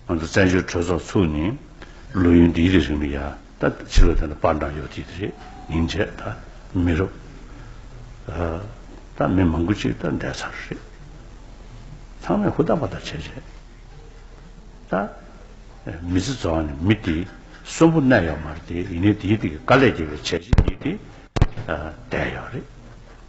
ང་ཚོ་བཙན་བྱོལ་གྲོས་ཚོགས་ཚུགས་ནས་ལོ་ཡུན་འདིའི་རིང་མི་ཡ་ད་ཕྱི་ལོ་དེ་ལ་པར་འདྲ་ཡོད་དེ་དེ་རེད་ཉིན་རྗེས་ད་མི་རུབ་ད་མི་མང་པོ་གཅིག་ད་འདས་ཚར་རེད་ཚང་མས་ཧུར་ཐག་པར་ཐག་བྱས་རྗེས་ད་མི་ཚེ་རྫོགས་ནས་མི་དེ་གསོན་པོ་གནས་ཡོད་མ་རེད་དེ་ཡིན་ནའི་དེའི་ཐད་ཀྱི་དཀའ་ལས་རྒྱལ་བའི་བྱས་རྗེས་ཉིད་དེ་འདས་ཡོད་རེད།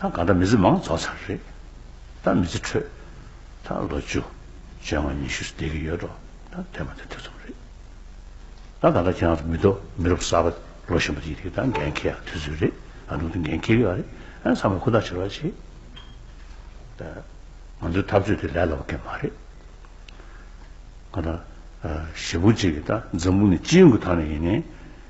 ད་ག་འདྲ་མི་ཚེ་མང་རྫོགས་ཚར་རེད། ད་མི་ཚེ་ཁྲོད། ད་ལོ་བཅུ། བཅོ་ལྔ་ཉི་ཤུ་སྡད་ཀྱི་ཡོད་འགྲོ་ད་དེ་མ་དེ་དེ་ཙམ་རེད། ད་ག་འདྲ་ཁྱེད་རང་ཚོ་མི་རྡོ་མི་རུབ་གསར་པ་ལོ་གཞོན་པ་དེ་ཡིན་ཏེ་ད་འགན་ཁྱེར་ཡག་དུས་ཚོད་རེད་ད་འདུག་ཏེ་འགན་ཁྱེར་གི་ཡག་རེད་ཨ་ཚང་མས་ཁུ་ཐག་ཆེར་བ་བྱེད་ད་ང་ཚོའི་འཐབ་རྩོད་དེ་ལས་སླ་བ་གན་མ་རེད། ག་འདྲ། ཞེ་ཕུག་ཅིག་གི་ད་འཛམ་བུ་ནི་སྤྱི་ཡོངས་ཀྱི་ཐང་ནས་ཡིན་ནའི།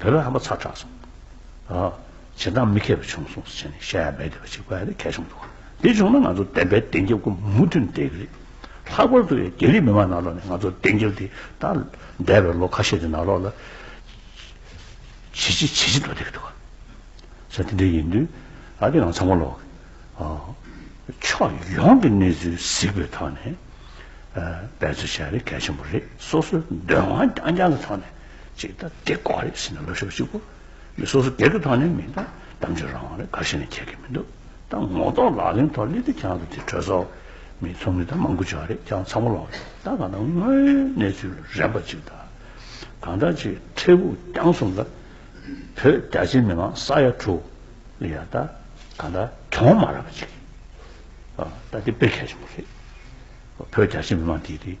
བོད་པའི་ཧམ་པ་ཚ་དྲགས་སོང། བྱེད་སྟངས་མི་མཁས་པ་བྱུང་སོང་ཟེར་ནས་བཤད་ཡ་མེད་བསྡད་པ་ཞིག་ཀ་རེ་གལ་ཆུང་འདུག་འདི་བྱུང་ན་ང་ཚོ་བདེན་པའི་བདེན་རྒྱབ་སྒོ་མུ་མཐུད་འབྲེལ་གི་རེད། ལྷག་པར་དུ་རྒྱ་རིགས་མི་མང་ནང་ལོགས་ནས་ང་ཚོ་བདེན་རྒྱབ་དེ་ད་འདས་པའི་ལོ་ཁ་ཤས་ཀྱི་ནང་ལོགས་ལ་བྱེད་ཅི་བྱེད་ཅི་འདོད་བསྡད་ཀྱི་འདུག་ས་དེ་འདྲ་ཡིན་དུས་ད་དེ་ཡང་ཚང་མ་ལོག་ཕྱོགས་ཡོངས་ཀྱི་གནས་ཚུལ་གཟིགས་པའི་ཐོག་ནས་འབད་རྩོལ་བྱ་ཡ་རེ་གལ་ཆེན་པོ་རེད་སོ་སོའི་འདོད་དབང་རྐྱང་རྐྱང་གི་ཐོག་ནས། ཅིག་ད་དེ་ལྐོག་རེད་ཟེར་ནས་ལོ་ཤོག་གཅིག་པོ་འདི་སོ་སོ་སྒེར་གྱི་ཐོག་ནས་མིན་ད་གཏམ་བརྗོད་རང་རེད་ག་ཞིག་ནས་ཁྱད་གི་མི་འདུག་ད་ངོ་གཏོགས་ལག་ལེན་ཐོག་གླེ་དེ་ཁྱང་དུ་དེ་གྲོས་ཚོགས་མི་ཚོགས་མི་ད་མང་དགུ་བྱོ་རེད་ཁྱང་ཚང་པོ་ལོག་རེད་ད་གང་ད་དངོས་ཡོད་གནས་ཚུལ་རན་པ་ཅིག་ད་གང་ད་ཅིག་འཕྲལ་ཕུགས་རྒྱང་གསུམ་ད་བོད་རྒྱ་ཆེ་མི་མང་ས་ཡ་དྲུག་ཡ་ད་གང་ད་གྱོང་མ་རག་པ་ཅིག་ད་དེ་དཔེ་གལ་ཆེན་པོ་རེད་བོད་རྒྱ་ཆེ་མི་མང་དེ་དེ།